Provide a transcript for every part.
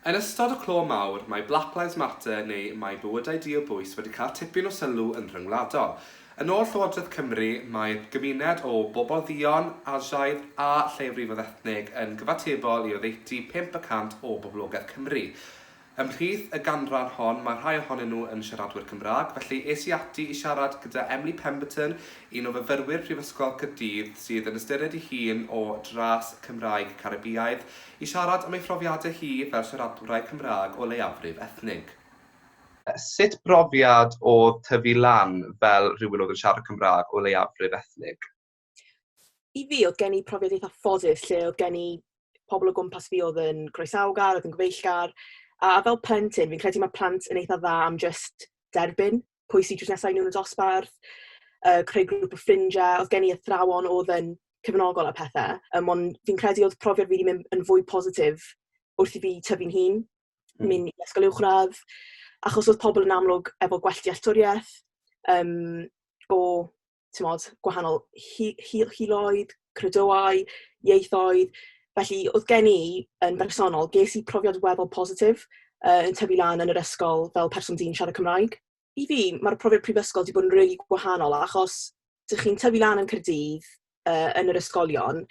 Yn ystod y clo mawr, mae Black Lives Matter neu Mae Bywydau Diobwys wedi cael tipyn o sylw yn rhyngwladol. Yn ôl Llywodraeth Cymru, mae'r gymuned o bobl dduon, Asiaidd a lleiafrifoedd ethnig yn gyfatebol i oddeutu pump y cant o boblogaeth Cymru. Ymhlith y ganran hon, mae rhai ohonyn nhw yn siaradwyr Cymraeg, felly es i ati i siarad gyda Emily Pemberton, un o fyfyrwyr Prifysgol Caerdydd sydd yn ystyried ei hun o dras Cymraeg Caribïaidd, I siarad am ei phrofiadau hi fel siaradwraig Cymraeg o leiafrif ethnig. Sut brofiad oedd tyfu lan fel rhywun oedd yn siarad Cymraeg o leiafrif ethnig? I fi, oedd gen i profiad eitha ffodus lle oedd gen i pobl o gwmpas fi oedd yn groesawgar, oedd yn gyfeillgar, a fel plentyn, fi'n credu mae plant yn eitha dda am jyst derbyn pwy sydd drws nesa i nhw yn y dosbarth, yy, creu grŵp o ffrindiau. Oedd gen i athrawon oedd yn cefnogol a pethe, yym, ond fi'n credu oedd profiad fi wedi mynd yn fwy positif wrth i fi tyfu'n hun, hmm. mynd i ysgol uwchradd, achos oedd pobl yn amlwg efo gwell dealltwriaeth, um, o timod, gwahanol hi- hi- hiloedd, credoau, ieithoedd. Felly, oedd gen i, yn bersonol, ges i profiad weddol positif, yy, yn tyfu lan yn yr ysgol fel person dyn siarad Cymraeg. I fi, mae'r profiad prifysgol 'di bod yn rili gwahanol, achos dych chi'n tyfu lan yn Caerdydd, yy, yn yr ysgolion,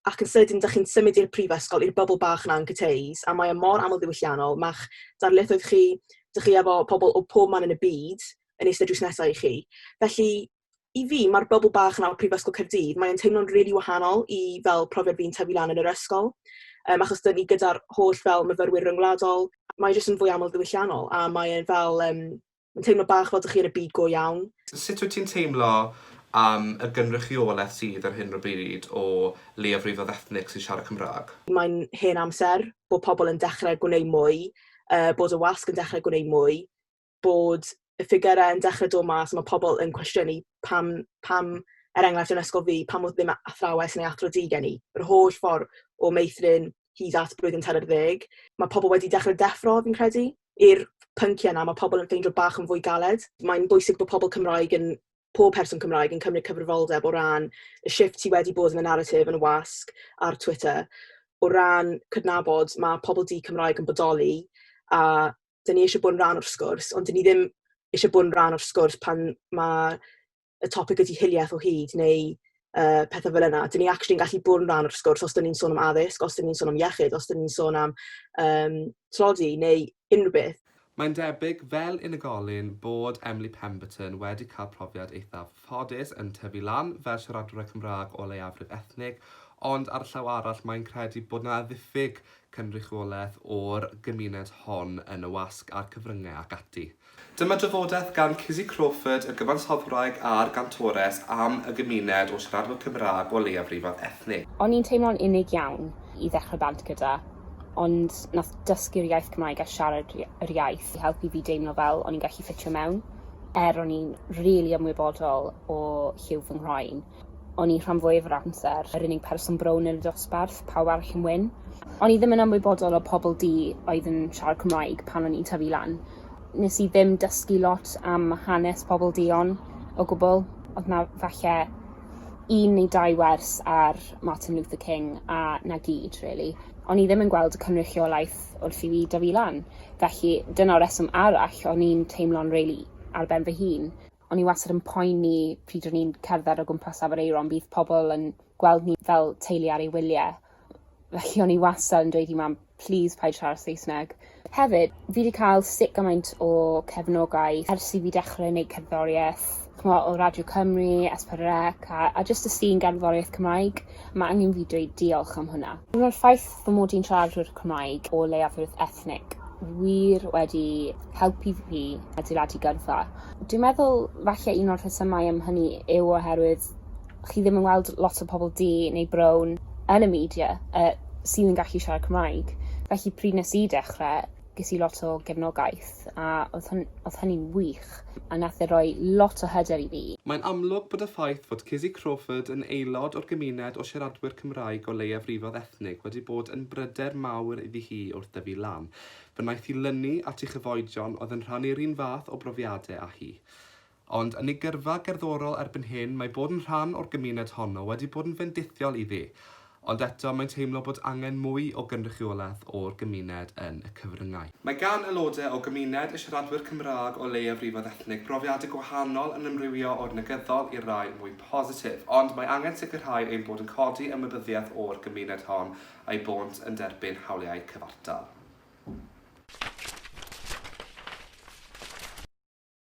ac yn sydyn dych chi'n symud i'r prifysgol, i'r bubble bach 'na yn Cyteis, a mae o mor amlddiwylliannol, ma'ch darlithoedd chi, dych chi efo pobl o pob man yn y byd yn eistedd drws nesa i chi. Felly, i fi, mae'r bubble bach 'na o Prifysgol Caerdydd, mae'n teimlo'n rili really wahanol i fel profiad fi'n tyfu lan yn yr ysgol, um, achos dyn ni gyda'r holl fel myfyrwyr ryngwladol, mae jyst yn fwy amlddiwylliannol, a mae'n fel, um, Yn teimlo bach fel dych chi yn y byd go iawn. Sut wyt ti'n teimlo am y gynrychiolaeth sydd ar hyn o bryd o leiafrifoedd ethnig sy'n siarad Cymraeg? Mae'n hen amser bod pobl yn dechrau gwneud mwy, bod y wasg yn dechrau gwneud mwy, bod y ffigyrau yn dechrau dod mas a mae pobl yn cwestiynu pam, pam, er enghraifft yn ysgol fi, pam oedd ddim athrawes neu athro du gen i? Yr holl ffordd o meithrin hyd at blwyddyn tair ar ddeg, mae pobl wedi dechrau deffro, fi'n credu, i'r pynciau 'na, mae pobl yn ffeindio bach yn fwy galed. Mae'n bwysig bod pobl Cymraeg yn, pob person Cymraeg yn cymryd cyfrifoldeb o ran y shift sydd wedi bod yn y naratif yn y wasg ar Twitter, o ran cydnabod mae pobl di Cymraeg yn bodoli, a dan ni eisiau bod yn rhan o'r sgwrs, ond dan ni ddim eisiau bod yn rhan o'r sgwrs pan mae y topic ydy hiliaeth o hyd neu uh, pethau fel yna. Dyn ni actually yn gallu bod yn rhan o'r sgwrs os dyn ni'n sôn am addysg, os dyn ni'n sôn am iechyd, os dyn ni'n sôn am um, tlodi neu unrhyw beth. Mae'n debyg fel unigolyn bod Emily Pemberton wedi cael profiad eithaf ffodus yn tyfu lan fel siaradwr Cymraeg o leiafrif ethnig, ond ar y llaw arall mae'n credu bod yna ddiffyg cynrychiolaeth o'r gymuned hon yn y wasg a'r cyfryngau ac ati. Dyma drafodaeth gan Kizzy Crawford, y gyfansoddwraig a'r gantores, am y gymuned o siaradwyr Cymraeg o leiafrifoedd ethnig. O'n i'n teimlo'n unig iawn i ddechrau band gyda, ond nath dysgu'r iaith Cymraeg a siarad yr iaith i helpu fi deimlo fel o'n i'n gallu ffitio mewn, er o'n i'n rili ymwybodol o lliw fy nghroen. O'n i rhan fwyaf yr amser yr unig person brown yn y dosbarth, pawb arall yn wyn. O'n i ddim yn ymwybodol o pobl du oedd yn siarad Cymraeg pan o'n i'n tyfu lan. Nes i ddim dysgu lot am hanes pobl duon o gwbl, oedd 'na falle un neu dau wers ar Martin Luther King a 'na gyd rili. O'n i ddim yn gweld y cynrychiolaeth wrth i fi dyfu lan, felly dyna'r reswm arall o'n i'n teimlo'n rili ar ben fy hun. O'n i wastad yn poeni pryd o'n i'n cerdded o gwmpas Afon Aeron bydd pobl yn gweld ni fel teulu ar ei wylie. Felly o'n i wastad yn dweud i mam plîs paid siarad Saesneg. Hefyd fi 'di cael sut gymaint o cefnogaeth ers i fi dechrau neud cerddoriaeth, ch'mo' o Radio Cymru, Es Pedwar Ec a a jyst y sîn gerddoriaeth Cymraeg. Ma' angen fi dweud diolch am hwnna. Ma'r ffaith Fy mod i'n siaradwr Cymraeg o leiafrif ethnig wir wedi helpu fi adeiladu gyrfa. Dwi'n meddwl falle un o'r rhesymau am hynny yw oherwydd chi ddim yn weld lot o pobl du neu brown yn y media uh, sydd yn gallu siarad Cymraeg. Felly pryd nes i dechrau, ges i lot o gefnogaeth a oedd hyn- oedd hynny'n wych a nath e roi lot o hyder i fi. Mae'n amlwg bod y ffaith fod Kizzy Crawford yn aelod o'r gymuned o siaradwyr Cymraeg o leiafrifoedd ethnig wedi bod yn bryder mawr iddi hi wrth dyfu lan. Fe wnaeth hi lynu at ei chyfoedion oedd yn rhannu'r un fath o brofiadau â hi. Ond yn ei gyrfa gerddorol erbyn hyn, mae bod yn rhan o'r gymuned honno wedi bod yn fendithiol iddi, ond eto mae'n teimlo bod angen mwy o gynrychiolaeth o'r gymuned yn y cyfryngau. Mae gan aelodau o gymuned y siaradwyr Cymraeg o leiafrifoedd ethnig brofiadau gwahanol yn amrywio o'r negyddol i'r rhai mwy positif, ond mae angen sicrhau ein bod yn codi ymwybyddiaeth o'r gymuned hon a'i bônt yn derbyn hawliau cyfartal.